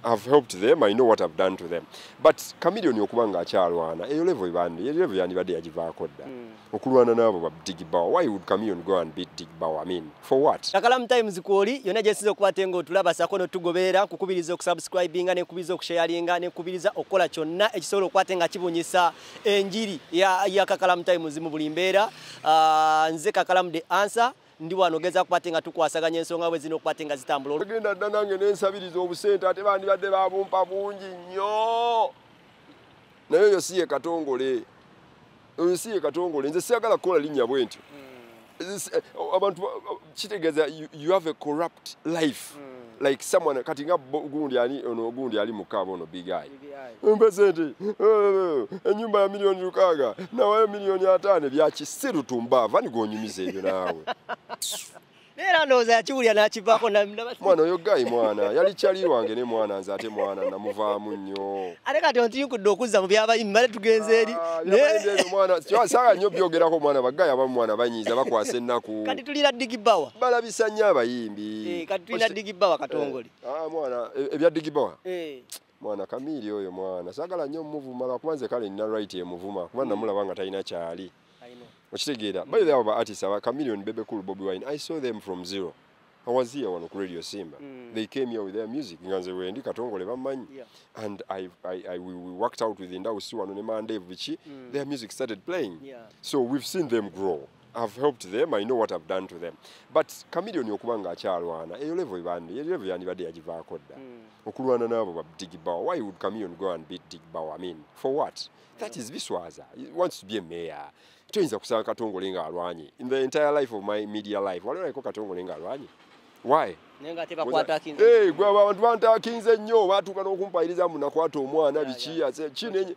I've helped them, I know what I've done to them. But Chameleon okuba nga akyalwana, eyo level ibandi, eyo level yandibadde yagivaako dda. Mm. Okulwana n'abo ba Big Bow. Why would Chameleon go and beat Big Bow? I mean, for what? Kakalamu Times kwoli, yona jesize okuba tengo otulaba sako no tugobeera, kukubiriza okusubscribinga, ne kubiriza okusharinga, ne kubiriza okola kyonna ekisobola okuba tenga kibunyisa enjiri ya, ya Kakalamu Times mu buli mbeera. Uh, nze Kakalamu the answer. ndi wano geza kupate nga tukwasaganya ensonga bwe zino kupate nga zitambula ogenda dda nange nensabiriza obusente ate bandibadde babumpa bungi nnyo naye oyo si ye katongole oyo si ye katongole nze siyagala kukola linnya bwe ntyo hmm. eh, oh, abantu oh, kitegeeza you have a corrupt life hmm. like someone kati nga gundi ali ono gundi ali mukaaba ono big eye mpe sente enyumba ya milioni lukaaga nawayo milioni ataano byakisiru tumbaava nigonyumiza ebyo naawe era ndowooza yakiwulira nakivaako mwana oyo gayi mwana yali kyali wange ne mwana nze ate mwana namuvaamu nnyo ate kati ontiyukudde okuzza mu byabayimi bale tugenze eri ah, saaga nnyo byogerako omwana bagayi abamu mwana banyiiza bakwasa ennaku kati tulina digibawa balabisa nnyo abayimbi eh, kati tulina digibawa katongole Ah, mwana e- ebya digibawa Eh. mwana kamiiri oyo mwana sagala nnyo omuvuma lwakuba nze kale nina right emuvuma kuba namulaba nga talina kyali I know. okitegeera by the way abo ba artist aba chameleon bebe cool bobi wine i saw them from zero i was here wano ku radio simba Mm. they came here with their music nga nze wendi katongole bammanyi Yeah. and I, I, I, we, we worked out with ndawusi wano ne mandevu biki their music started playing Yeah. so we've seen them grow I've helped them, I know what I've done to them. But Chameleon okuba nga akyalwana, eyo level ibande, eyo level yandibadde yagivaako dda. Mm. Okulwana n'abo ba Big Bow, why would Chameleon go and beat Big Bow? I mean, for what? That is Biswaza. He wants to be a mayor. Toyinza kusanga Katongole nga alwanye. In the entire life of my media life, waliwo naliko Katongole nga alwanye. Why? Hey, gwe abantu bantakinze nnyo batuuka n'okumpayiriza mbu nakwata omwana biki kino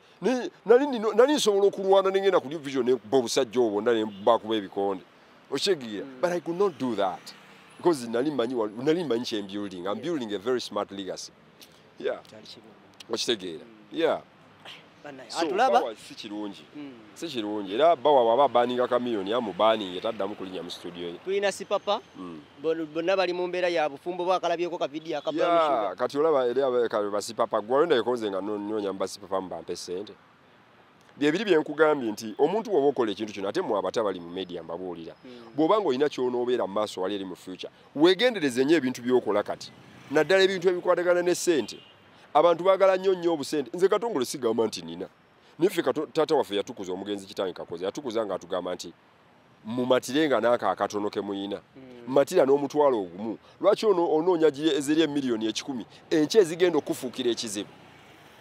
nali nsobola okulwana nengenda ku division nekuba obusajja obwo nda nebakuba ebikonde okyegeera mm. but i could not do that because nali manyi nali manyi kye building i'm building a very smart legacy yeah okitegeera mm. yeah atulaba si kirungi mm. si kirungi era bawa baba baninga kamiyoni amubaninge taddamu kulinya mu studio ye tulina sipapa mm. bonna bali mu mbeera ya bufumbo oba akalabyeko ka vidiyo akabaa kati olaba eri basipapa gwayo nayekonze nga nonoonya mu basipapa mu bampe ssente byebiri byenkugambye nti omuntu woba okola ekintu kino ate mwe abata bali mu media mbabuulira hmm. bw'oba nga olina kyonoobeera mu maaso wali eri mu future weegendereze nnyo ebintu byokola kati naddala ebintu ebikwatagana ne ssente abantu baagala nnyo nnyo obusente nze katongole sigamba nti nina naye ffe taata waffe yatukuza omugenzi kitange kakoze yatukuza ng'atugamba nti mumatire nga naako akatono ke muyina hmm. matira n'omutwalo ogumu lwaki ono onoonya ezeri emiliyoni ekikumi enkya ezigenda okufuukira ekizibu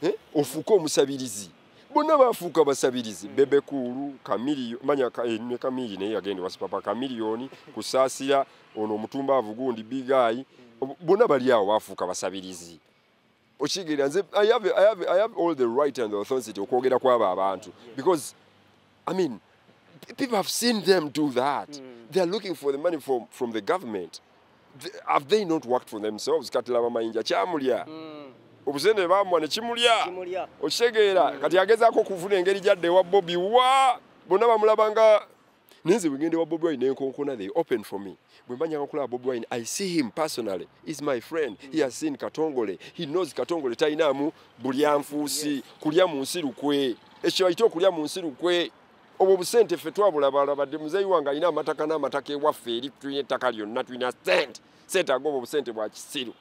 eh? ofuuke omusabirizi bonna bafuuka basabirizi hmm. bebe kuulu kamiriyo manya eh, ne kamiri naye yagenda wasipapa kamiriyoni kusaasira ono omutumbaavu gundi bigayi hmm. bonna bali awo bafuuka basabirizi okigerera nze I have, I, have, I have all the right and the authority okwogera kwabo abantu because i mean people have seen them do that mm. they are looking for the money from, from the government the, have they not worked for themselves kati laba mayinja kyamulya mm. obusente bamwa nekimulya okitegeera mm. kati agezaako okuvuna engeri gyadde ewa bobi wa bonna bamulabanga naye nze bwegende wa bobi wine nenkonkona they open for me bwe mba nyanga kulaba bobi wine i see him personally is my friend he has seen katongole he knows katongole talinaamu bulyanfuusi kulya mu nsi lukwe ekyo ayite okulya mu nsi lukwe obwo busente ffe twabulabalabadde muzeeyi wange alina amataka n'amataka ewaffe eri tulina ettaka lyonna tulina sente sente aga obwo busente bwa kisiru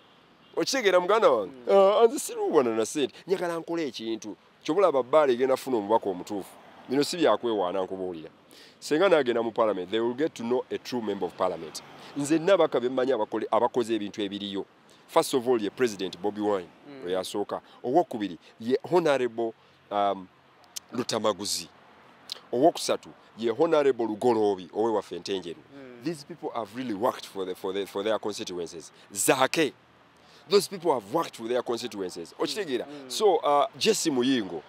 okitegeera muganda wange mm. ah, anze siruubana na sente njagala nkola ekintu Kyobulaba bbaala egenda funa omubaka omutuufu. Bino si byakwewaana nkubuulira. Senga nagenda mu parliament, they will get to know a true member of parliament. Nze nabaka bemmanyi abakoze ebintu ebiriyo. First of all, ye president Bobby Wine, mm. oyasooka. Owokubiri, ye honorable um, Lutamaguzi. Owokusatu, ye honorable Lugoloobi, owe wafe ntenjeru. Mm. These people have really worked for, the, for, the, for their constituencies. Zake. those people have worked with their constituencies mm. okitegeera mm. so uh, jesse muyingo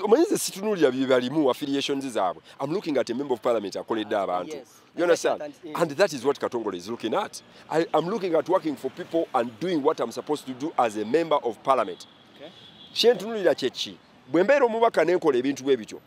omanyi ze situnulira byebalimu affiliations zaabwe am looking at a member of parliament akoledde ah, abantu you understand and that is what katongole is looking at I, am looking at working for people and doing what i'm supposed to do as a member of parliament kyentunulira kyeki bwe mbeera omubaka nenkola ebintu bwe bityo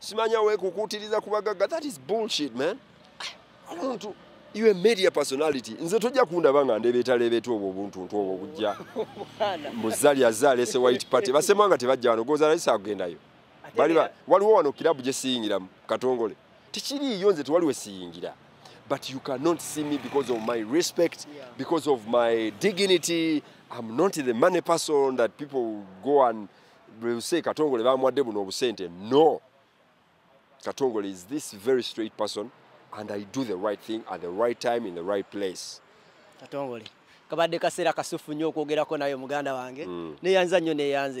Simanya we kukutiriza kubagaga that is bullshit man. Omuntu you a media personality. Nze tojja kundaba nga ndebeta lebeta obwo obuntu ntu obwo bujja. Muzali azale se white party. Basema nga tebajja wano goza rais agenda yo. Bali ba waliwo wano kilabu je siyingira katongole. Tikiri yo nze twaliwe siyingira. But you cannot see me because of my respect, yeah. because of my dignity. I'm not the money person that people go and bwebuse katongole bamuwadde buno obusente no katongole is this very straight person and i do the right thing at the right time in the right place katongole kabadde kaseera kasufu nnyo okwogerako naye muganda wange mm. neyanza nnyo neyanza